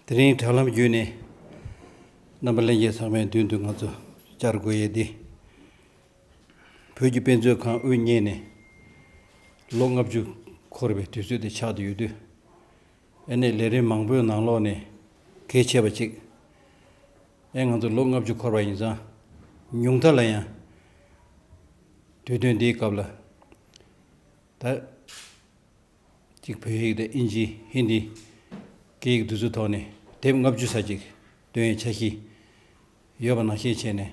དེ་རིང་དྲ་ལམ་བརྒྱུད་ནས་རྣམ་པ་གླེང་མཁན་ཚང་མའི་མདུན་དུ་ང་ཚོ་བཅར་དགོས་ཡས་འདི། བོད་ཀྱི་དཔེ་མཛོད་ཁང་དབུ་བརྙེས་ནས་ལོ་ལྔ་བཅུ་འཁོར་བའི་དུས་ཚོད་དེ་ཆགས་ཏུ་ཡོད་དུས། ཨེ་ནས་ལས་རིམ་མང་པོའི་ནང་ལོགས་ནས་གལ་ཆེ་བ་གཅིག་ཨེ་ང་ཚོ་ལོ་ལྔ་བཅུ་འཁོར་བ་ཡིན་ཙང་ཉུང་མཐའ་ལ་ཡང་དུས་སྟོན་འདིའི་སྐབས་ལ་ད་ཅིག་བོད་ཡིག་དང་ཨིན་ཇི་ཧིན་དི་སྐད་ཡིག་བསྡུས་ཚུལ་ཐོག་ནས་དེབ་ལྔ་བཅུ་ས་ཅིག་འདོན་ཡའི་འཆར་གཞི་ཡོད་པ་ནང་བཤད་བྱས་ནས་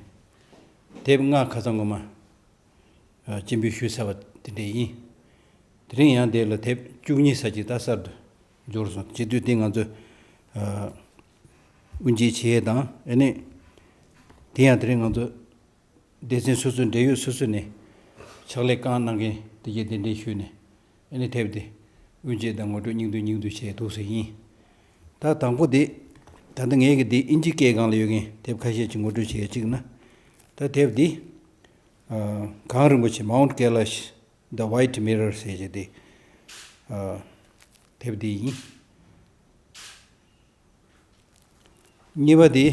དེབ་ལྔ་ཁ་ཚ་ངོ་མ། སྐྱེ་འཕེལ་ཤུལ་ཚར་བ་དེ་འདྲས་ཡིན། དེ་རིང་ཡང་དེ་ལ་དེབ་བཅུ་གཉིས་ས་ཅིག་ལྟ་གསར་དུ་འབྱོར་སོང། བྱེས་དུས་དེ་ང་ཚོས་དབུ་འབྱེད་བྱེད་ཡས་དང་ཨེ་ནས། དེ་ཡང་དེ་རིང་ང་ཚོ་སྡེ་ཚན་སོ་སོའི་འབྲེལ་ཡོད་སོ་སོ་ནས་ཕྱག་ལས་གང་གནང་མཁན་དེ་གས་དེ་འདྲས་ཞུས་ནས་ཨེ་ནས་དེབ་དེ་དབུ་འབྱེད་དང་ངོ་སྤྲོད་སྙིང་བསྡུས་སྙིང་བསྡུས་བྱས་འདུག་ཟེར་ཡིན། ད་དང་པོ་དེ། ད་ལྟ་ངེད་ཀྱི་འདིའི་ཨིན་ཇིའི་སྐས་སྒང་ལ་ཡོད་མཁན་དེབ་ཁ་ཤས་ཅིག་ངོ་སྤྲོད་བྱེད་ཅིག་ན། ད་དེབ་འདི། གངས་རིན་པོ་ཆེ Mount Kailash The White Mirror ཟེར་བྱེད་དེ། དེབ་འདི་ཡིན། གཉིས་པ་དེ།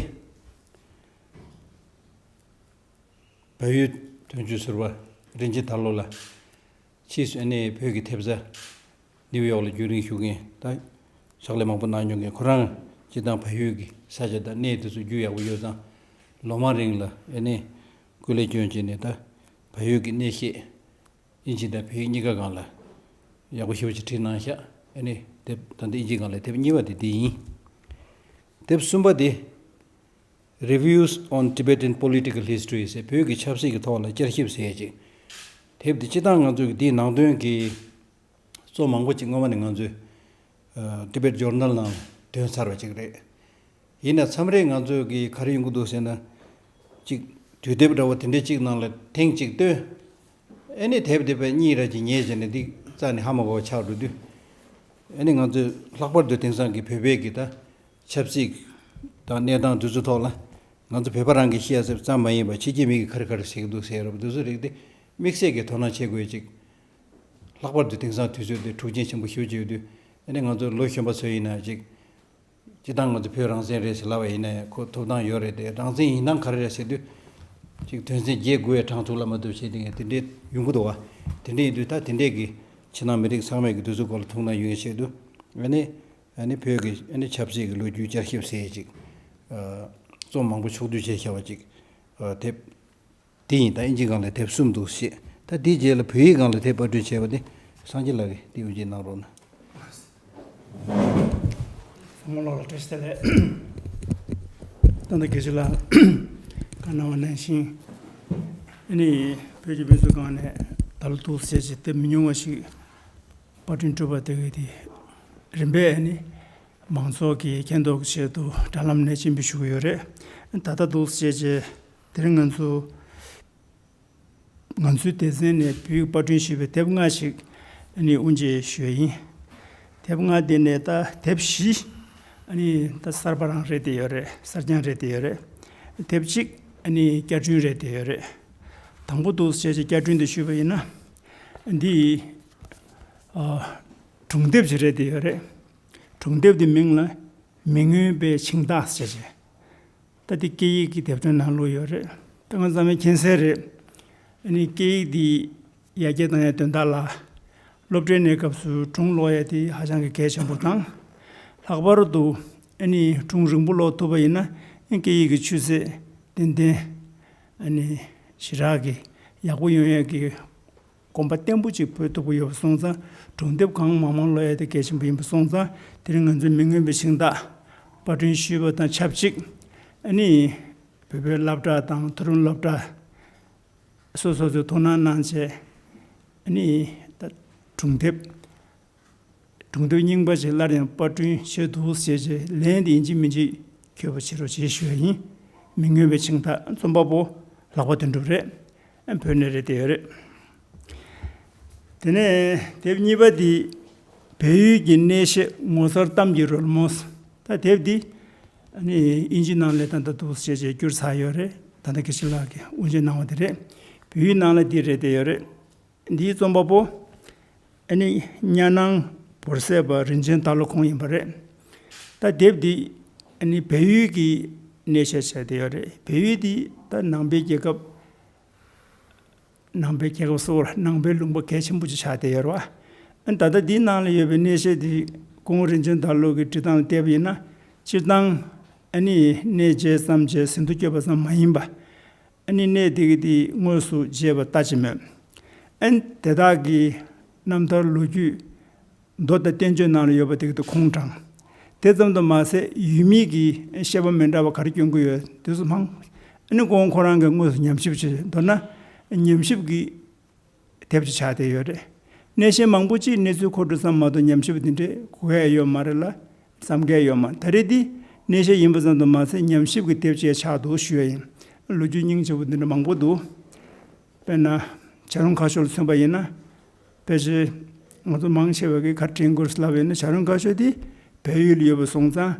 བལ་ཡུལ་དོན་གཅོད་ཟུར་པ་རིན་ཆེན་ཐར་ལོ་ལ། ཕྱིས་སུ་ཨ་ནེ་ཡི་བོད་ཀྱི་དེབ་གཟའ། ནིའུ་ཡོག་ལ་རྒྱུན་རིང་བཞུགས་མཁན་དང། ཕྱག་ལས་མང་པོ་གནང་མྱོང་མཁན་ཁོ་རང་སྤྱི་དང་བལ་ཡུལ་གྱི་ས་ཆ་དང་གནས་དེ་ཚོ་རྒྱུས་ཡག་པོ་ཡོད་ཙང། ལོ་མང་རིང་ལ་ཨེ་ནེ་སྐུ་ལས་སྐྱོན་བྱས་ནས་ད་བལ་ཡུལ་གྱི་གནས་ཤེས། དབྱིན་ཇི་དང་བལ་ཡུལ་གཉིས་ཀ་སྒང་ལ་ཡག་པོ་ཞིབ་ཕྲ་བྲིས་གནང་ཤག་ཨེ་ནེ་དེབ་ད་ལྟ་དབྱིན་ཇི་སྒང་ལ་དེབ་གཉིས་པ་དེ་འདི་ཡིན། དེབ་གསུམ་པ་དེ། Reviews on Tibetan Political History ཟེར་བོད་ཀྱི་ཆབ་སྲིད་ཀྱི་ཐོག་ལ་བསྐྱར་ཞིབ་ཟེར་ཅིག་དེབ་དེ་སྤྱི་སྟངས་ང་ཚོ་གི་འདིའི་ནང་དོན་གྱི། གཙོ་མང་པོ་ཅིག་སྔོན་མ་ནས་ང་ཚོའི Tibet Journal ནང་དོན་ཚར་བ་ཅིག་རེད། ཡིན་ན་མཚམས་རེ་ང་ཚོས་ཀྱིས་ག་རེ་ཡོང་གི་འདུག་ཟེར་ན། གཅིག་དུས་དེབ་འདྲ་བོ་དེ་འདྲའི་གཅིག་ནང་ལ་ཐེངས་གཅིག་བཏོན། ཨེ་ནས་དེབ་དེ་པའི་གཉིས་རེ་གཅིག་ཉལ་བྱས་ནས་འདི་བཙལ་ནས་ཧ་མ་གོ་བ་ཆགས་འགྲོ་དུས། ཨེ་ནས་ང་ཚོས་ལྷག་པར་དུ་དེང་སང་གི་བོད་པའི་གི་ད་ཆབ་སྲིད་དང་གནས་སྟངས་དུས་ཚོད་ཐོག་ལ། ང་ཚོ་བོད་པ་རང་གི་ཤེས་གསལ་ཙམ་མ་ཡིན་པར་ཕྱི་རྒྱལ་མི་གིས་ག་རེ་ག་རེ་བྱེད་ཀྱི་འདུག་ཟེར་རབས་དེ་ཚོ་རིག་སྟེ་དམིགས་བསལ་གྱིས་དོ་སྣང་བྱེད་དགོས་ཅིག་ལྷག་པར་དུ་དེང་སང་དུས་ཚོད་འདི་འཁྲུག་ཆེན་ཆེན་པོ་ཤོད་ཀྱི་ཡོད་དུས། ཨ་ནི་ང་ཚོ་ལོ་གཞོན་པ་ཚོས་ཡིན་ན་ཅིག། སྤྱི་བཏང་ང་ཚོ་བོད་རང་བཙན་རེད་ཟེར་སླ་བ་ཡིན་ནའི་ཁོ་ཐུབ་ཐང་ཡོད་རེད་དེ་རང་བཙན་ཡིན་ཐང་ག་རེ་རེད་ཟེར་དུས། ཅིག་དོན་ཚན་བརྒྱད་དགུ་བའི་གྲངས་ཐུགས་ལ་མ་བཏུབ་བྱས་དེ་ངས་དེ་འདྲའི་ཡུན་གུ་དོ་བ། དེ་འདྲའི་ཡིན་དུས་ད་དེ་འདྲས་ཀྱི་ཕྱི་ནང་མི་རིགས་ཚང་མས་ཀྱི་དུས་ཚོད་སྐོར་ལ་ཐུགས་སྣང་ཡོད་ཡིན་བྱས་དུས། ཨ་ནི། ཨ་ནི་བོད་ཀྱི་ཨ་ནི་ཆབ་སྲིད་ཀྱི་ལོ་རྒྱུས་བསྐྱར་ཞིབ་ཟེར་ཅིག། རྩོམ་མང་པོ་ཕྱོགས་བསྡུས་བྱས་ཤ་བ་ཅིག། དེབ། དེ་ཡིན་ད་ཨིན་ཇི་གང་ལ་དེབ་གསུམ་འདུག་བཤད་ད་དེའི་རྗེས་ལ་བོད་ཡིག་གང་ལ་དེབ་དཔར་སྐྲུན་བྱས་པ་དེ་སངས་རྒྱས་ལགས་ཀྱིས་དེ་འོས་ཇི་གནང་རོགས་གནང། བུ་མོ་ལགས་ལ་བཀྲ་ཤིས་བདེ་ལེགས། ད་ལྟ་དགེ་བཤེས་ལགས་བཀའ་གནང་བ་ནང་བཞིན་ཨ་ནི་བོད་ཀྱི་དཔེ་མཛོད་ཁང་ནས་ད་ལོ་གཏོར་བཤལ་གྱི་དེབ་མི་ཉུང་བ་ཞིག་དཔར་སྐྲུན་སྤྲོད་པ་དེ་དེ་རིམ་པས་ཨ་ནི་མང་ཚོགས་ཀྱི་མཁྱེན་རྟོགས་ཀྱི་ཆེད་དུ་དྲ་ལམ་ནས་སྤྱིན་འབུལ་ཞུ་གི་ཡོད་རེད་ད་ལྟ་གཏོར་བཤལ་གྱི་དེར་ང་ཚོ། ང་ཚོའི་སྡེ་ཚན་ནས་བེུད་དཔར་སྐྲུན་བྱས་པའི་དེབ་ལྔ་ཞིག་ནི་དབུ་འབྱེད་ཞོལ་ཡིན། དེབ་ལྔ་དེ་ནས་ད་དེབ་བཞི། ནི་ད་གསར་པ་རང་རེད་དེ་ཡོད་རེད་གསར་རྐྱང་རེད་དེ་ཡོད་རེད། དེབ་གཅིག་ནི་བསྐྱར་སྐྲུན་རེད་དེ་ཡོད་རེད། དང་པོ་དུ་བྱས་ཅིག་བསྐྱར་སྐྲུན་དུ་ཞུས་པ་ཡིན་ན། འདི། གྲོང་དེབ་ཅིག་རེད་དེ་ཡོད་རེད། གྲོང་དེབ་དེ་མིང་ལ། མི་མངོན་པའི་འཆིང་ཐག་བཅད་བྱས། ད་ལྟའི་སྐད་ཡིག་གི་དེབ་ཐེར་ནང་བླུགས་ཡོད་རེད། ད་ང་ཚང་མའི་མཁྱེན་གསལ་རེད། ཨ་ནི་སྐད་ཡིག་འདིའི་ཡ་གྱལ་དང་ཡང་དོན་དག་ལ། སློབ་གྲྭའི་གནས་སྐབས་སུ་སྒྲུང་ཀློག་ཡས་དེ་ཧ་ཅང་གི་གལ་ཆེན་པོ་དང། ལྷག་པར་དུ། ཨ་ནི་སྒྲུང་རིང་པོ་ཀློག་ཐུབ་པ་ཡིན་ན་སྐད་ཡིག་གི་ཆུ་ཚད་ཏན་ཏན། ཨ་ནི་ཞི་དྲག་གི་ཡག་པོ་ཡོང་ཡས་ཀྱི། གོམ་པ་བརྟན་པོ་ཅིག་སྤོས་ཐུབ་ཀྱི་ཡོད་པ་སོང་ཙང་སྒྲུང་དེབ་གང་མང་མང་ཀློག་ཡ་དེ་གལ་ཆེན་པོ་ཡིན་པ་སོང་ཙང་དེ་རིང་ང་ཚོས་མི་མངོན་པའི་ཤིང་རྟ། དཔར་བསྐྲུན་ཞུས་པ་དང་ཆབས་ཅིག་ཨ་ནི། བོད་པའི་སློབ་གྲྭ་དང་མཐོ་རིམ་སློབ་གྲྭ། སོ་སོ་ཚོས་དོ་སྣང་གནང་ཆེད་ཨ་ནི། སྒྲུང་དེབ། སྒྲུང་དོན་རྙིང་པ་ཞིག་སླར་ཡང་པར་སྐྲུན་བྱས་འདུག་ཟེར་རྗེས་ལན་དེ་ཡིན་གཅིག་མིན་གཅིག་གྱོད་པ་ཆེ་རུ་བྱེད་ཤེས་པ་ཡིན། མི་མངོན་པའི་འཆིང་ཐག་རྩོམ་པ་པོ་ལག་པ་དོན་གྲུབ་རེད། བོད་ནས་རེད་དེ་ཡོད་རེད། དེ་ནས་དེབ་གཉིས་པ་འདི་བལ་ཡུལ་གྱི་གནས་བཤད་ངོ་མཚར་གཏམ་གྱི་རོལ་མོ། ད་དེབ་འདི་དབྱིན་ཇི་ནང་ལས་ད་ལྟ་འདུག་ཟེར་རྗེས་བསྐྱུར་ཚར་ཡོད་རེད། ད་ལྟ་གེ་སི་ལགས་ཀྱིས་དབུ་འབྱེད་གནང་བ་དེ་རེད། བོད་ཡུལ་ནང་ལ་འདི་རེད་དེ་ཡོད་རེད། འདིའི་རྩོམ་པ་པོ་ཨ་ནི་གཉའ་ནང་བོར་སད་པ་རིན་ཆེན་སྟག་ལོ་ཁོང་ཡིན་པ་རེད། ད་དེབ་འདི་ཨ་ནི་བལ་ཡུལ་གྱི་གནས་བཤད་བྱས་བསྡད་ཡོད་རེད་བལ་ཡུལ་འདི་ད་ནང་པའི་རྒྱལ་ཁབ། ནང་པའི་རྒྱལ་ཁབ་སོགས་ནང་པའི་ལུང་པ་གལ་ཆེན་པོ་ཅིག་ཆགས་བསྡད་ཡོད་རེད། ཨ་ནི་ད་ལྟ་འདིའི་ནང་ལ་ཡོད་པའི་གནས་བཤད་འདི་ཀོང་རིན་ཆེན་སྟག་ལོ་གི་བྲིས་སྟངས་ལ་བལྟས་པ་ཡིན་ན་སྤྱིར་བཏང་ཨ་ནི་གནས་མཇལ་བསམ་མཇལ་ཟིན་ཐོ་བསྐྱོད་པ་ཙམ་མ་ཡིན་པ། ཨན་ནི་གནས་དེ་གའི་དངོས་སུ་བརྗེས་པ་ལྟ་ཅི་སྨོས། ཨན་དེ་དག་གི་རྣམ་ཐར་ལོ་རྒྱུས། མདོ་དང་བསྟན་བཅོས་ནང་ལ་ཡོད་པ་དེ་གའི་ཁུངས་དྲངས། དེ་ཙམ་དུ་མ་ཟད་ཡུལ་མིང་གི་བཤད་པ་མི་འདྲ་བ་ག་རེ་སྐྱོན་གྱི་ཡོད་དུས་སུ་སྨྲ། ཨན་ནི་ཀོང་ཁོ་རང་གིས་དངོས་སུ་ཉམས་ཞིབ་བྱས་མདོར་ན། ཉམས་ཞིབ་ཀྱི། དེབ་ཅིག་ཆགས་བསྡད་ཡོད་རེད། སྣེ་གཞན་མང་པོ་ཅིས་གནས་ཚུལ་ཁོ་སྒྲུབ་ཙམ་མ་གཏོགས་ཉམས་ཞིབ་འདི་འདྲས་གོ་གལ་ཡོད་མ་རེད་ལ། བསམ་གལ་ཡོད་མ་རེད་ད་རེས་འདི་སྣེ་གཞན་ཡིན་པ་ཙམ་དུ་མ་ཟད་ཉམས་ཞིབ་ཀྱི་དེབ་ཅིག་ཡང་ཆགས་འདུག་ཞུ་ཡ་ཡིན། ལོ་རྒྱུས་རྙིང་ཆེ་བོ་འདི་འདྲ་མང་པོ་འདུག། དཔེར་ན། བྱ་རུང་ཁ་ཤོར་ལ་མཚོན་པ་ཡིན་ན། ཕལ་ཆེར། ང་ཚོ་མང་ཆེ་བ་གིས་ཁ་དྲན་དགོས་སླ་བས་ན་བྱ་རུང་ཁ་ཤོར་དེ་བལ་ཡུལ་ལ་ཡོད་པར་སོང་ཙང།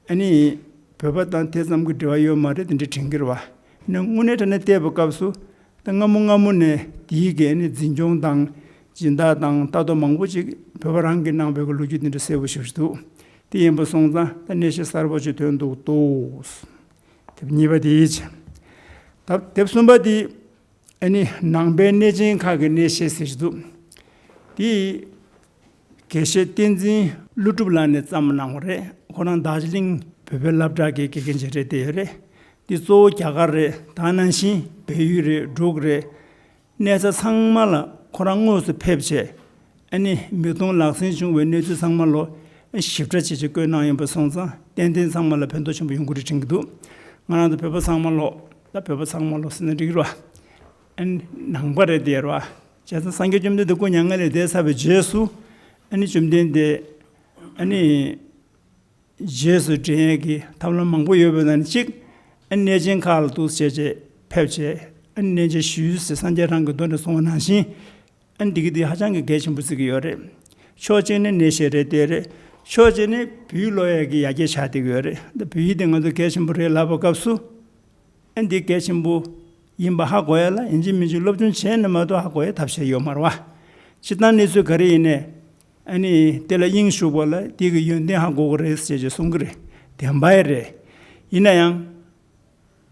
ཨ་ནི། བོད་པ་དང་དེ་ཙམ་གྱི་འབྲེལ་བ་ཡོད་མ་རེད་འདི་འདྲས་དྲན་གྱི་རེད། ན་དངོས་གནས་དྲན་ནས་བལྟས་པའི་སྐབས་སུ། ད་སྔ་མོ་སྔ་མོ་ནས་དེའི་འགན་ནི་འཛིན་སྐྱོང་དང་སྦྱིན་བདག་དང་ལྟ་རྟོག་མང་པོ་ཅིག་བོད་པ་རང་གིས་གནང་བས་ཀྱི་ལོ་རྒྱུས་འདི་འདྲ་གསལ་བོ་ཞིག་རེད་འདུག་དེ་ཡིན་པ་སོང་ཙང་ད་གནས་བཤད་གསར་བོ་ཅིག་ཐོན་འདུག་དོགས། དེབ་གཉིས་པ་དེའི་ཆ། དེབ་གསུམ་པ་དེ་ནི་ནང་པའི་གནས་ཆེན་ཁག་གི་གནས་བཤད་ཟེར་གྱི་འདུག་དེའི་དགེ་བཤེས་བསྟན་འཛིན་ཀླུ་སྒྲུབ་ལགས་ནས་བརྩམས་གནང་བ་རེད་ཁོ་རང་དར་ཅི་ལིང་བོད་པའི་བླ་བྲག་གི་དགེ་རྒན་ཞིག་རེད་བལྟས་ཡོད་རེད་འདི་གཙོ་བོ་རྒྱ་གར་རེད་དང་ནང་བཞིན་བལ་ཡུལ་རེད་འབྲུག་རེད། གནས་ས་ཚང་མ་ལ་ཁོ་རང་དངོས་སུ་ཕེབས་རྗེས་ཨ་ནི་མིག་མཐོང་ལག་ཟིན་བྱུང་བའི་གནས་ཚུལ་ཚང་མ་ལོ་ཞིབ་ཕྲ་ཇི་བྱས་བཀོད་གནང་ཡོད་པ་སོང་ཙང་ཏན་ཏན་ཚང་མ་ལ་ཕན་ཐོག་ཆེན་པོ་ཡོང་གི་རེད་དྲན་གི་འདུག་ང་རང་ཚོ་བོད་པ་ཚང་མ་ལོ་ད་བོད་པ་ཚང་མ་ལོ་ཟེར་ན་འགྲིག་ར་ཨ་ནི་ནང་པ་རེད་བལྟས་ར། བྱས་ཙང་སངས་རྒྱས་བཅོམ་ལྡན་འདས་སྐུ་མྱ་ངན་ལས་འདས་ཚར་བའི་རྗེས་སུ། ཨཱ་ནི་བཅོམ་ལྡན་འདས། ཨཱ་ནི། རྗེས་སུ་འབྲེལ་ཡོད་ཀྱི་ཐབས་ལམ་མང་པོ་ཡོད་པའི་ནང་ནས་གཅིག། ཨཱ་ནི་གནས་ཆེན་ཁག་ལ་ཐུགས་སྲས་བཅས་ཆེད་ཕེབས་བྱས། ཨཱ་ནི་གནས་མཇལ་ཞུས་ཚེ་སངས་རྒྱས་རང་གི་མདུན་དུ་སོང་བ་ནང་བཞིན། ཨཱ་ནི་འདི་གི་འདི་ཧ་ཅང་གི་གལ་ཆེན་པོ་བརྩི་གི་ཡོད་རེད། ཕྱོགས་གཅིག་ནི་གནས་བཤད་རེད་དེ་རེད། ཕྱོགས་གཅིག་ནི་བོད་ཡིག་ཀློག་ཡག་གི་ཡར་རྒྱས་ཆགས་བསྡད་ཀྱི་ཡོད་རེད། འདི་བོད་ཡིག་འདི་ང་ཚོ་གལ་ཆེན་པོ་རེད་ལབ་པའི་སྐབས་སུ། ཨན་འདི་གལ་ཆེན་པོ་ཡིན་པ་ཧ་གོ་ཡ་ལ་ཡན་ཅིན་མིན་ཅིག་སློབ་སྦྱོང་བྱས་ནི་མ་གཏོགས་ཧ་གོ་ཡའི་ཐབས་ཤེས་ཡོད་མ་རུང་བ། སྤྱིར་བཏང་གནས་ཚུལ་ག་རེ་ཡིན་ནས་ཨན་ནི་དེ་ལ་དབྱིངས་ཞུགས་པ་ལ་དེ་གི་ཡོན་ཏན་ཧ་གོ་གི་རེད་ཅེས་ཅེས་གསུང་གི་རེད་དེ་འབའ་ཡི་རེད། ཡིན་ན་ཡང།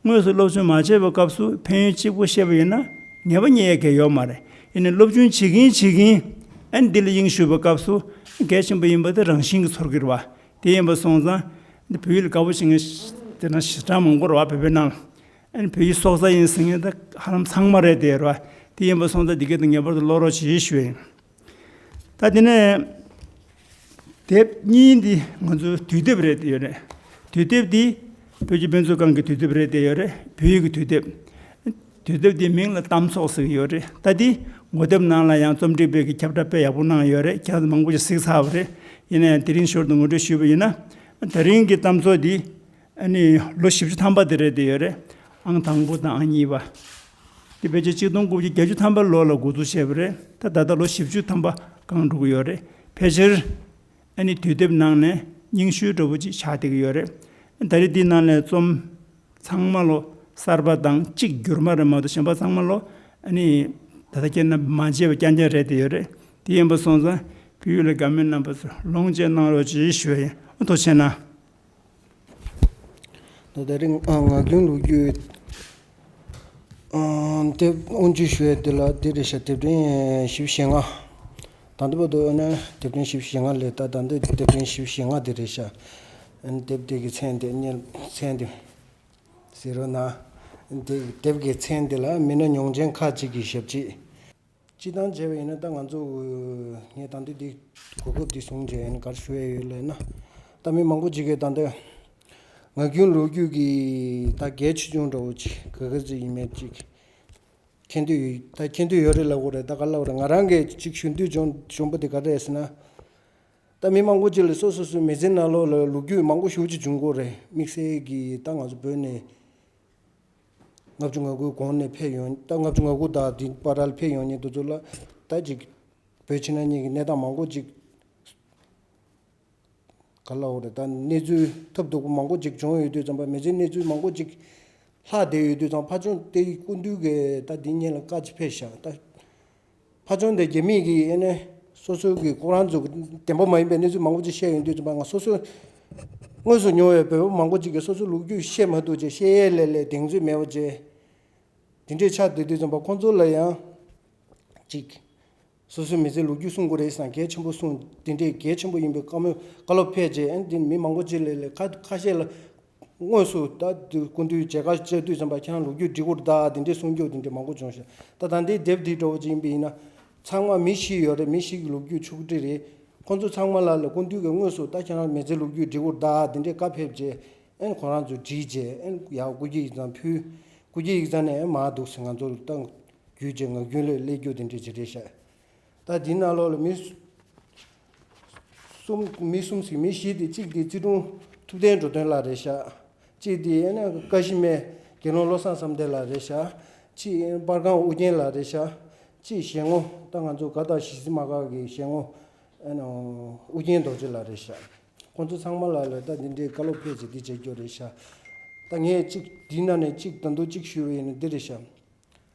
དངོས་སུ་སློབ་སྦྱོང་མ་བྱས་པའི་སྐབས་སུ་ཕན་ཡོན་གཅིག་པོ་ཤེས་པ་ཡིན་ན་ངེས་པ་རྙེད་ཡ་གལ་ཡོད་མ་རེད་ཡིན་ནའི་སློབ་སྦྱོང་བྱེད་གིན་བྱེད་གིན་ཨན་འདི་ལ་དབྱིངས་ཞུགས་པའི་སྐབས་སུ་གལ་ཆེན་པོ་ཡིན་པ་དེ་རང་བཞིན་གྱི་ཚོར་གི་རེད་བ། དེ་ཡིན་པར་སོང་ཙང། འདི་བོད་ཡུལ་དགའ་བོ་ཞིག་ངས། དེ་ན་གཞི་གྲངས་མང་པོར་བ་བོད་པའི་ནང་ལ། ཨ་ནི་བོད་ཡུལ་སྲོག་རྩ་ཡིན་ཟེར་མཁན་དེ་ཧ་ལམ་ཚང་མ་རེད་དེ་རེད་བ། དེ་ཡིན་པར་སོང་ཙང་འདི་སྐད་དུ་ངེས་པར་དུ་བློ་རོགས་བྱེད་ཞུ་བ་ཡིན། ད་དེ་ནས། དེབ་གཉིས་འདི་ང་ཚོའི་དུས་དེབ་རེད་དེ་ཡོད་རེད། དུས་དེབ་འདི། བོད་ཀྱི་དཔེ་མཛོད་ཁང་གི་དུས་དེབ་རེད་དེ་ཡོད་རེད། བོད་ཡིག་གི་དུས་དེབ། དུས་དེབ་འདིའི་མིང་ལ་གཏམ་ཚོགས་ཟེར་གྱི་ཡོད་རེད་ལྟ་དེ། ངོ་དེབ་ནང་ལ་ཡང་རྩོམ་སྒྲིག་པས་ཀྱི་ཁྱབ་བསྒྲགས་དཔེ་ཡག་པོ་གནང་ཡོད་རེད་ཁྱེད་རང་ཚོ་མང་པོ་ཞིག་གཟིགས་ཚར་བ་རེད། ཡིན་ན་ཡང་དེ་རིང་ཞོར་དུ་ངོ་སྤྲོད་ཞུས་པ་ཡིན་ན། ད་རིང་གི་གཏམ་ཚོགས་འདི། ནི། ལོ་བཞི་བཅུ་ཐམ་པ་དེ་རེད་བསྡད་ཡོད་རེད། ཨང་དང་པོ་དང་ཨང་གཉིས་པ། དེ་བོད་ཆས་གཅིག་སྟོང་དགུ་བརྒྱ་བརྒྱད་ཅུ་ཐམ་པའི་ལོ་ལ་འགོ་འཛུགས་བྱས་པ་རེད་ད། ད་ལྟ་ལོ་བཞི་བཅུ་ཐམ་པ་སྒང་འགྲོ་གི་ཡོད་རེད། ཕལ་ཆེར། ཨ་ནི་དུས་དེབ་ནང་ནས་རྙིང་ཤོས་གྲོ་བོ་ཅི་ཆགས་བསྡད་ཀྱི་ཡོད་རེད། ད་རེས་འདི་ནང་ལས་རྩོམ། ཚང་མ་ལོ་གསར་པ་དང་གཅིག་འགྱུར་མ་རེད་མ་གཏོགས་གཞན་པ་ཚང་མ་ལོ། ཨ་ནི། ད་ལྟ་ཁྱེད་རྣམ་པས་མ་མཇལ་བའི་སྐྱ་མཇལ་རེད་བསྡད་ཡོད་རེད། དེ་ཡིན་པ་སོང་ཙང་བོད་ཡུལ་ལ་དགའ་མོས་རྣམ་པ་ཚོས་ལོངས་སྤྱད་གནང་རོགས་ཅེས་ཞུ་བ་ཡིན། ཨ་མདོ་ཆེ་ན། ད་ལྟ་རིང་ངག་རྒྱུན་ལུགས་རྒྱུད་དེབ་དབུ་འབྱེད་ཞུ་ཡས་འདི་ལ་འདི་རེ་ཞིག་དེབ་ཕྲེང་བཞི་བཞི་ལྔ། ད་ལྟ་བར་དུ་ཨ་ནེ་དེབ་ཕྲེང་བཞི་བཞི་ལྔ་ལས་ད་ལྟ་འདི་དེབ་ཕྲེང་བཞི་བཞི་ལྔ་དེ་རེ་ཞིག་དེབ་དེ་གི་མཚན་དེ་རྙེད་མཚན་དེ་ཟེར་རོ་ན། དེབ་ཀྱི་མཚན་དེ་ལ་མི་སྣ་མྱོང་ཆེན་ཁག་ཅིག་གི་ཞབས་རྗེས། སྤྱི་བཏང་བྱས་པ་ཡིན་ན་ད་ང་ཚོ། ངས་ད་འདི་འདི་གོ་སྐབས་འདི་བཟུང་བྱས་ཡིན་གར་ཞུ་ཡས་ཡོད་ལས་ན། ད་མི་མང་པོ་ཅིག་གིས་ད་འདི། ངག་རྒྱུན་ལོ་རྒྱུས་ཀྱི་ད་གལ་ཆེ་ཆུང་འདྲ་བོ་ཅིག་ག་ག་ཟེ་ཡིན་མེད་ཅིག། མཁྱེན་འདོད་ཡོད་ད་མཁྱེན་འདོད་ཡོད་རེད་ལབ་གོ་རེད་ད་ག་ལབ་རེད་ང་རང་གིས་ཅིག་ཞུ་འདོད་བྱུང་བྱུང་པོ་དེ་ག་རེད་ཟེར་ན། ད་མི་མང་པོ་ཅིག་ལ་སོ་སོ་སོའི་མི་ཚེ་ནང་ལོགས་ལ་ལོ་རྒྱུས་མང་པོ་ཞུ་ཅིག་བྱུང་གོ་རེད་དམིགས་བསལ་གྱིས་ད་ང་ཚོ་བོད་ནས། ལྔ་བཅུ་ང་དགུའི་གོང་ནས་ཕེབས་ཡོང་ལྟ་ལྔ་བཅུ་ང་དགུ་དང་དེའི་པར་ལ་ཕེབས་ཡོང་ཉེན་དུ་འདུག་ལ། ད་ཅིག་བོད་ཕྱི་ནང་གཉིས་ཀྱི་གནས་སྟངས་མང་པོ་གཅིག་ག་ལ་འོག་ནས་ད་གནས་ཚུལ་ཐབས་སྡུག་པོ་མང་པོ་གཅིག་བྱུང་ཡོད་དུས་ཙམ་པ་མི་ཚེ་གནས་ཚུལ་མང་པོ་གཅིག་ལྷག་བསྡད་ཡོད་དུས་ཙམ་ཕ་ཆུང་སྟེ་ཀུན་འདུས་ཀྱིས་ད་འདི་གཉིས་ལ་བཀའ་ཅི་ཕེབས་བཞག་ལྟ། ཕ་བྱུང་སྟེ་རྒྱལ་མི་གིས་ནི་སོ་སོའི་གི་སྐུ་རང་ཚུགས་བདེན་པོ་མ་ཡིན་པའི་གནས་ཚུལ་མང་པོ་ཅིག་བཤད་ཡོང་དུས་ཀྱི་མ་ང་སོ་སོས་དངོས་སུ་མྱོང་བའི་བོད་པོ་མང་པོ་ཅིག་གིས་སོ་སོའི་ལུགས་རྒྱུད་བཤད་མ་ཐུབ་ཅེས་བཤད་ཡས་ལས་ལས་གདེང་ཚོད་མེད་པ་ཅེས། དེ་འདྲའི་ཆ་དེ་དུས་ཙམ་པར་ཁོང་ཚོ་ལ་ཡང། ཅིག། སོ་སོའི་མི་ཚེའི་ལུགས་རྒྱུད་སྲུང་དགོས་རེད་བསམ་གལ་ཆེན་པོ་གསུངས་དེ་འདྲས་གལ་ཆེན་པོ་ཡིན་པའི་བཀའ་མོལ་བཀའ་སློབ་ཕེབས་རྗེས་ཨན་དེ་ནི་མི་མང་པོ་ཅིག་ལས་ལས་ཁ་ཁ་ཤས་ལ། དངོས་སུ་ད་དུས་སྐུ་མདུན་བྱེས་དཀར་ལྕགས་བདུད་བཙན་པ་ཁྱང་ལུག་རྒྱུད་གྲི་གུར་བདག་དེ་འདྲའི་གསུང་མཆོག་དེ་འདྲའི་མང་པོ་བྱུང་ཞིང་ད་ད་ལྟའི་དེབ་འདི་གྲོགས་པོ་གཅིག་ཡིན་པ་ཡིན་ན། ཚང་མ་མི་ཤི་ཡོད་རེད་མི་ཤི་གི་ལུག་རྒྱུད་ཆུག་གྲི་རེད། ཁོང་ཚོ་ཚང་མ་ལ་ལས་སྐུ་མདུན་གྱི་དངོས་སུ་ད་ཁྱང་མེས་ཚེ་ལུག་རྒྱུད་གྲི་གུར་བདག་དེ་འདྲའི་བཀའ་ཕེབས་རྗེས་ཨན་ཁོང་རང་ཚོས་བྲིས་རྗེས་ཨན་ཡག་སྐུ་སྐྱེ་ཡིག་ཚང་ཕུལ། སྐུ་སྐྱེ་ཡིག་ཚང་ནས་ཨན་མ་འདུག་སེ་ང་ཚོ་ལ་ལྟ། རྒྱུད་ཀྱི་ངག་རྒྱུན་ལས་ཀླད་རྒྱུད་དེ་འདྲའི་བྱེད་འབྲེལ་བཤད། ད་འདི་ནང་ལོགས་ལ་མི། གསུམ་མི་གསུམ་ཟིག་མི་བཞི་སྟེ་གཅིག་དེ་རྩེ་དྲུང་ཐུབ་བསྟན་འགྲོ་དོན་ལ་རེ་བཞག། གཅིག་དེ་ཡན་ནས་ཀ་བཞི་སྨད་དགེ་སློང་བློ་བཟང་བསམ་གཏན་ལ་རེ་བཞག། གཅིག་པར་ཁང་ཨུ་རྒྱན་ལ་རེ་བཞག། གཅིག་ཞལ་ངོ་ད་ང་ཚོ་ག་དག་ཞི་བསིལ་མ་གག་གི་ཞལ་ངོ། ཨུ་རྒྱན་རྡོ་རྗེ་ལ་རེ་བཞག། ཁོང་ཚོ་ཚང་མ་ལ་ལ་ད་འདི་འདྲའི་བཀའ་སློབ་ཕལ་ཆེ་འདི་མཇལ་རྒྱུ་རེ་བཞག། ད་ངས་གཅིག་འདི་ན་ནས་གཅིག་ད་འདུག་གཅིག་ཞུ་བ་ཡིན་ན་འདི་རེ་བཞག།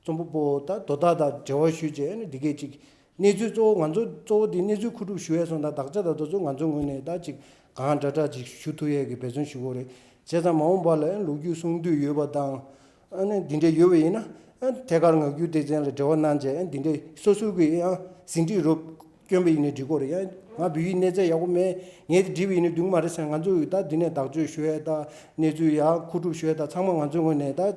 རྩོམ་པ་པོ་དང་དོ་བདག་དང་འབྲེལ་བ་ཞུས་རྗེས་འདི་སྐད་ཅིག། གནས་ཚུལ་གཙོ་བོ་ང་ཚོ་གཙོ་བོ་དེ་གནས་ཚུལ་མཁོ་སྒྲུབ་ཞུ་ཡས་སོང་དང་དག་ཆ་དང་དོ་ཚུལ་ང་ཚོའི་ངོས་ནས་དག་ཅིག་གང་འདྲ་དྲག་ཅིག་ཞུ་ཐུབ་ཡས་ཀྱི་འབད་བརྩོན་ཞུ་གོ་རེད་བྱས་ཙང་མ་འོངས་པ་ལ་ལུག་རྒྱུད་སྲུང་འདོད་ཡོད་པ་དང། འདི་འདྲ་ཡོད་པ་ཡིན་ན། ཐད་ཀར་ངག་རྒྱུན་སྡེ་ཚན་ལ་འབྲེལ་བ་གནང་རྗེས་འདི་འདྲ་སོ་སོའི་གི་ཡང་ཟིན་བྲིས་རུ་བསྐྱོན་པ་ཡིན་ན་འགྲིག་གོ་རེད་ཡང་ང་བོད་ཡིག་གནས་ཚད་ཡག་པོ་མེད་ངས་དེ་བྲིས་པ་ཡིན་ན་འགྲིག་མ་རེད་ཟེར་ང་ཚོས་ད་འདི་ནས་དག་བཅོས་ཞུ་ཡས་དང་གནས་ཚུལ་ཡག་མཁོ་སྒྲུབ་ཞུ་ཡས་དང་ཚང་མ་ང་ཚོའི་ངོས་ནས་དག་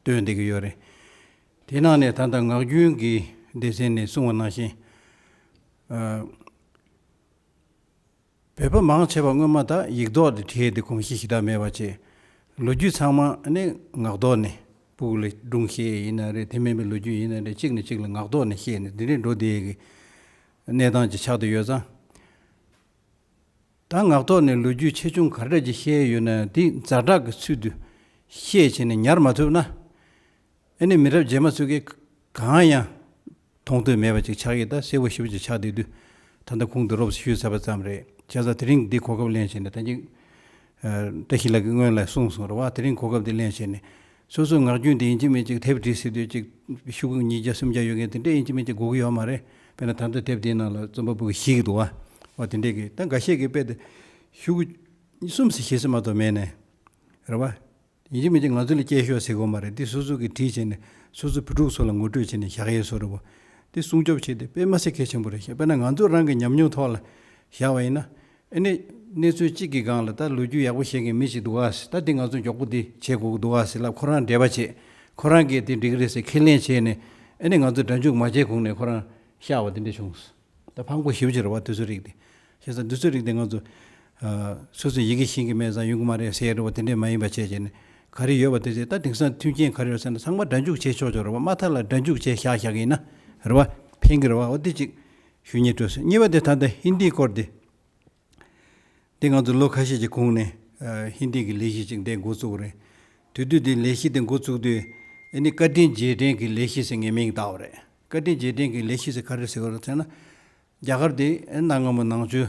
སྟོན་བསྡད་ཀྱི་ཡོད་རེད། དེའི་ནང་ནས་ད་ལྟ་ངག་རྒྱུན་གྱི་སྡེ་ཚན་ནས་གསུང་བ་ནང་བཞིན། བོད་པ་མང་ཆེ་བ་སྔོན་མ་དག་ཡིག་རྡོག་དེ་བྲིས་ཏེ་གོམས་གཤིས་ཤི་དག་མེད་པ་བྱས། ལོ་རྒྱུས་ཚང་མ་ནི་ངག་རྡོག་ནས་སྤུག་ལ་སྒྲུང་བཤད་ཡིན་ན་རེད་དེ་མིན་པའི་ལོ་རྒྱུས་ཡིན་ན་རེད་གཅིག་ནས་གཅིག་ལ་ངག་རྡོག་ནས་བཤད་ནས་དེ་འདྲའི་འགྲོ་བསྡད་ཀྱི་གནས་སྟངས་ཅིག་ཆགས་ཏེ་ཡོད་ཙང། ད་ངག་ཐོག་ནས་ལོ་རྒྱུས་ཆེ་ཆུང་ག་འདྲ་ཅིག་བཤད་ཡོད་ན་དེ་འཛའ་དྲག་གི་ཚུལ་དུ་བཤད་བྱས་ནས་ཉར་མ་ཐུབ་ན་ཨེ་ནི་མི་རབས་རྗེས་མ་ཚུད་མཁན་གང་ཡང་མཐོང་ཐོས་མེད་པ་ཅིག་ཆགས་ཡོད་ད་གསལ་བོ་ཞིབ་ཅིག་ཆགས་བསྡད་དུས་ད་ལྟ་ཁུང་དུ་རོབ་ཞུས་ཚར་བ་ཙམ་རེད་བྱས་ཙང་དེ་རིང་འདི་གོ་སྐབས་ལེན་བྱས་ནས་ད་ཅིག་བཀྲ་ཤིས་ལགས་ཀྱིས་སྔོན་ལ་གསུངས་སོང་རེད་བ་དེ་རིང་གོ་སྐབས་འདི་ལེན་བྱས་ནས་སོ་སོའི་ངག་རྒྱུན་དེ་ཡིན་གཅིག་མིན་གཅིག་དེབ་བྲིས་སྲིད་དུས་གཅིག་ཤུག་ཉིས་བརྒྱ་སུམ་བརྒྱ་ཡོད་མཁན་དེ་འདྲས་ཡིན་གཅིག་མིན་གཅིག་སྒུག་གི་ཡོད་མ་རེད་དཔེར་ན་ད་ལྟ་དེབ་དེའི་ནང་ལ་རྩོམ་པ་པོ་གི་གཞིས་ཀྱི་དུ་བ་དེ་འདྲས་ཀྱི་ད་འགའ་ཤས་ཀྱིས་དཔེ་དེ་ཤུག་གསུམ་ཟེར་བཞི་ཟེར་མ་གཏོགས་མེད་ནས་རེད་བ། ཡིན་གཅིག་མིན་གཅིག་ང་ཚོ་ལ་སྐྱེས་ཤོག་ཟེར་དགོས་མ་རེད་འདི་སོ་སོ་གིས་བྲིས་བྱས་ནས་སོ་སོ་བུ་ཕྲུག་ཚོ་ལ་ངོ་སྤྲོད་བྱས་ནས་བཞག་ཡས་སོ་རེད་བ། འདི་སྲུང་སྐྱོབ་བྱས་ཏེ་དཔེ་མ་ཟེར་གལ་ཆེན་པོ་རེད་བཤད་དཔེར་ན་ང་ཚོ་རང་གི་ཉམས་མྱོང་ཐོག་ལ་བཞག་བ་ཡིན་ན། ཨེ་ནས། གནས་ཚུལ་གཅིག་གི་སྒང་ལ་ད་ལོ་རྒྱུས་ཡག་པོ་བཤད་མཁན་མི་ཞིག་འདུག་ཨ་ཟེར་ད་དེ་ང་ཚོ་མགྱོགས་པོ་དེ་བྱེད་དགོས་ཀྱི་འདུག་ཨ་ཟེར་ལབ་ཁོ་རང་འབྲེལ་བ་བྱས། ཁོ་རང་གིས་དེ་འགྲིག་གི་རེད་ཟེར་ཁས་ལེན་བྱས་ནས། ཨེ་ནས་ང་ཚོ་སྒྲ་འཇུག་མ་བྱས་གོང་ནས་ཁོ་རང་ཤར་བ་དེ་འདྲ་བྱུང། ད་ཕམ་ཁོ་ཞི་བྱེད་རོགས་བ་དུས་ཚོད་རིག་དེ། བྱས་ཙང་དུས་ཚོད་རིག་དེ་ང་ཚོ། སོ་སོའི་ཡི་གེ་ཤིང་གི་སྨན་བཟང་ཡོང་གི་མ་རེད་ཟེར་རོགས་བ་དེ་འདྲ་མ་ཡིན་པ་བྱས་བྱས་ནས། ག་རེ་ཡོད་བ་དེ་བྱས་ད་དེང་སང་མཐུན་རྐྱེན་ག་རེ་ཡོད་ཟེར་ན་ཚང་མ་སྒྲ་འཇུག་བྱས་ཆོག་ཆོག་རོགས་བ་མ་མཐའ་ལ་སྒྲ་འཇུག་བྱས་ཤག་ཤག་ཡིན་ན། རོགས་བ། ཕན་གི་རོགས་བ་འོ་དེ་ཅིག། ཞུ་སྙན་སྤྲོད་སྲོལ་གཉིས་པ་དེ་ད་ལྟ་ཧིན་དིའི་སྐོར་དེ། དེ་ང་ཚོ་ལོ་ཁ་ཤས་ཀྱི་གོང་ནས་ཧིན་དིའི་གི་ལས་གཞི་ཅིག་འདེད་འགོ་བཙུགས་པ་རེད། དུས་དུས་དེ་ལས་གཞི་དེ་འགོ་བཙུགས་དུས་ཨེ་ནི་བཀའ་དྲིན་རྗེས་དྲན་གི་ལས་གཞི་ཟེར་ངས་མིང་བཏགས་པ་རེད། བཀའ་དྲིན་རྗེས་དྲན་གི་ལས་གཞི་ཟེར་ག་རེ་ཟེར་བ་རེད་ཟེར་ན། རྒྱ་གར་དེ་གནའ་སྔ་མོ་ནང་ཆོས་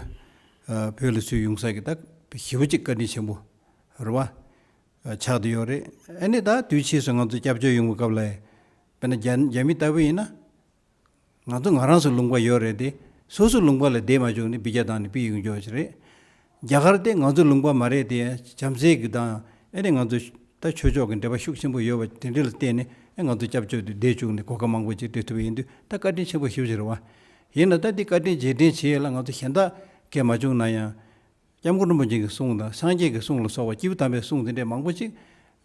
བོད་ལ་ཚུད་ཡོང་ས་གི་ད་ཞི་བ་ཅིག་བཀའ་དྲིན་ཆེན་པོ་རེད་བ། ཆགས་དུ་ཡོད་རེད། ཨེ་ནི་ད་དུས་ཕྱིས་སུ་ང་ཚོ་སྐྱབས་བཅོལ་ཡོང་བའི་སྐབས་ལ། དཔེར་ན་རྒྱ་མི་ལྟ་བུ་ཡིན་ན། ང་ཚོ་ང་རང་སུ་ལུང་པ་ཡོད་རེད་དེ་སོ་སུ་ལུང་པ་ལ་བསྡད་མ་བྱུང་ནི་སྦི་རྒྱ་དང་ནི་པི་ཡུང་འཇོག་ཅིག་རེད། རྒྱ་གར་དེ་ང་ཚོ་ལུང་པ་མ་རེད་དེ་བྱམས་བརྩེ་གི་དང་ཨེ་རེད་ང་ཚོ་ད་ཆོས་ཕྱོགས་ཀྱི་འབྲེལ་པ་ཤུགས་ཆེན་པོ་ཡོད་བ་དེ་འདྲི་ལ་བརྟེན་ནས་ཨེ་ང་ཚོ་སྐྱབས་བཅོལ་དུ་བསྡད་བཅུག་ནས་གོ་སྐབས་མང་པོ་ཅིག་སྤྲད་ཐུབ་ཡིན་དུས་ད་བཀའ་དྲིན་ཆེན་པོ་ཞུ་ཕྱིར་རོ། ཡིན་ན་ད་འདི་བཀའ་དྲིན་རྗེས་དྲན་བྱེད་ཡས་ལ་ང་ཚོ་གཞན་དག་གས་མ་བྱུང་ན་ཡང། སྐྱབས་མགོན་རིན་པོ་ཆེན་གྱི་གསུང་དང་སངས་རྒྱས་ཀྱི་གསུང་ལ་སོགས་པ་སྐྱེས་བུ་དམ་པའི་གསུང་དེ་འདྲའི་མང་པོ་ཅིག།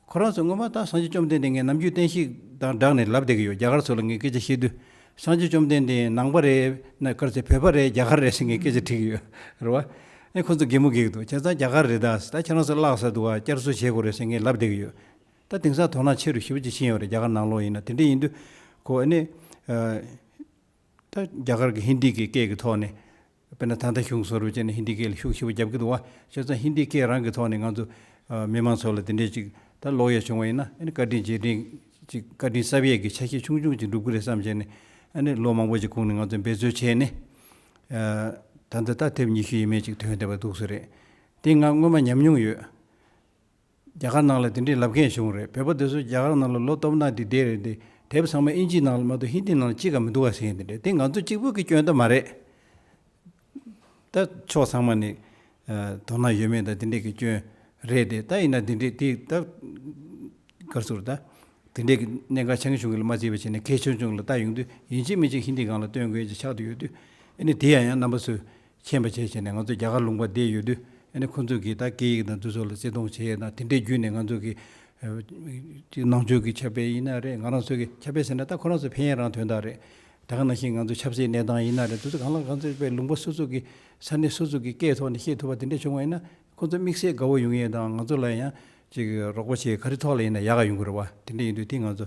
ཁོ་རང་ཚོས་སྔོན་མ་ད་སངས་རྒྱས་བཅོམ་ལྡན་འདས་ངས་ནམ་རྒྱུན་བསྟན་བཤིག་དང་སྦྲགས་ནས་ལབ་བསྡད་ཀྱི་ཡོད་རྒྱ་གར་ཚོ་ལ་ངས་སྐད་ཆ་བཤད་དུས་སངས་རྒྱས་བཅོམ་ལྡན་འདས་ནང་པ་རེད་ན་གར་ཚེ་བོད་པ་རེད་རྒྱ་གར་རེད་ཟེར་ངས་སྐད་ཆ་དྲིས་ཀྱི་ཡོད་རེད་བ། ཨེ་ཁོ་ཚོ་སྒེག་མོ་སྒེག་འདུག་བྱས་ཙང་རྒྱ་གར་རེད་ད་ད་ཁྱེད་རང་ཚོ་བརླག་ས་འདུག་ཨ་བསྐྱར་གསོ་བྱེད་དགོས་རེད་ཟེར་ངས་ལབ་བསྡད་ཀྱི་ཡོད། ད་དེང་སང་དོ་སྣང་ཆེ་རུ་ཞིབ་ཅིག་ཕྱིན་ཡོད་རེད་རྒྱ་གར་ནང་ལོགས་ཡིན་ན་དེ་འདྲ་ཡིན་དུས་ཁོ་ཨེ་ནས། ད་རྒྱ་གར་གྱི་ཧིན་དི་གི་སྐད་ཀྱི་ཐོག་ནས། དཔེར་ན་ད་ལྟ་གཞུང་སོ་རུབ་བྱས་ནས་ཧིན་དི་སྐད་ལ་ཤུགས་ཆེ་པོ་བརྒྱབ་གི་འདུག་བ་ཤེས་ཙང་ཧིན་དི་སྐད་རང་གི་ཐོག་ནས་ང་ཚོ་མི་མང་ཚོ་ལ་དེ་འདྲའི་ཅིག་ད་ལོག་ཡས་བྱུང་བ་ཡིན་ན་ཨ་ནི་བཀའ་དྲིན་རྗེས་དྲིན་ཅིག་བཀའ་དྲིན་གསབ་ཡས་ཀྱི་ཆ་ཤས་ཆུང་ཆུང་ཅིག་འགྲུབ་གི་རེད་བསམ་བྱས་ནས་ཨ་ནི་ལོ་མང་པོ་ཅིག་གོང་ནས་ང་ཚོ་འབད་རྩོལ་བྱས་ནས་ད་འདི་ལྟ་ཐེབས་ཉི་ཤུ་ཡས་མས་ཅིག་དོན་དེ་བ་འདུག་བཟོ་རེད་དེ་ང་སྔོན་མ་ཉམས་མྱོང་ཡོད། རྒྱ་གར་ནང་ལ་དེ་འདྲའི་ལབ་མཁན་བྱུང་རེད་བོད་པ་དེ་ཚོ་རྒྱ་གར་ནང་ལ་ལོ་གཏོབ་ན་དེ་བདེ་རེད་དེ་དེབ་ཚང་མ་ཨིན་ཇིའི་ནང་ལ་མ་གཏོགས་ཧིན་དི་ནང་ལ་གཅིག་ཀ་མི་འདུག་བ་ཟེར་མཁན་དེ་འདྲ་དེ་ང་ཚོ་གཅིག་པོ་གི་སྐྱོན་དུ་མ་རེད་ད་ཕྱོགས་ཚང་མ་ནི་དོ་སྣང་ཡོད་མེད་ད་དེ་འདྲས་གི་སྐྱོན་རེད་དེ་ད་ཡིན་ན་དེ་འདྲས་དེ་ད་གར་ཚུར་ད་དེ་འདྲས་གི་གནད་འགག་ཆེན་ཆུང་གི་ལ་མ་བརྩིས་པ་བྱས་ན་གལ་ཆུང་ཆུང་གི་ལ་ད་ཡོང་དུས་ཡིན་གཅིག་མིན་གཅིག་ཧིན་དི་གང་ལ་སྟོན་དགོས་ཀྱི་ཆགས་དུ་ཡོད་དུས་ཨེ་ནི་དེ་ཡང་ཡང་རྣམ་པ་ཚོས་མཁྱེན་པ་བྱས་བྱས་ནས་ང་ཚོ་རྒྱ་གར་ལུང་པ་བསྡད་ཡོད་དུས་ཨ་ནི་ཁོང་ཚོས་ཀྱིས་ད་སྐད་ཡིག་དང་དུས་ཚོད་ལ་བརྩི་མཐོང་བྱས་ན་དེ་འདྲའི་བརྒྱུད་ནས་ང་ཚོ་གི་ཅིག་ནང་ཆོས་ཀྱི་ཁྱབ་སྤེལ་ཡིན་ན་རེད་ང་རང་ཚོ་གི་ཁྱབ་སྤེལ་ཟེར་ན་ད་ཁོ་རང་ཚོ་ཕན་ཡོན་རང་དོན་དག་རེད་ད་ག་ནང་བཞིན་ང་ཚོ་ཆབ་སྲིད་གནས་སྟངས་ཡིན་ན་རེད་དུས་ཚོད་གང་ལ་གང་ཚོད་པའི་ལུང་པ་སོ་སོ་གི་ས་གནས་སོ་སོ་གི་སྐད་ཐོག་ནས་བཤད་ཐུབ་པ་དེ་འདྲ་བྱུང་བ་ཡིན་ན་ཁོང་ཚོ་དམིགས་བསལ་དགའ་བོ་ཡོང་ཡས་དང་ང་ཚོ་ལ་ཡང་ཅིག་རོགས་པ་བྱས་ག་རེ་ཐོག་ལ་ཡིན་ན་ཡག་ག་ཡོང་གི་རེད་བ་དེ་འདྲ་ཡིན་དུས་དེ་ང་ཚོ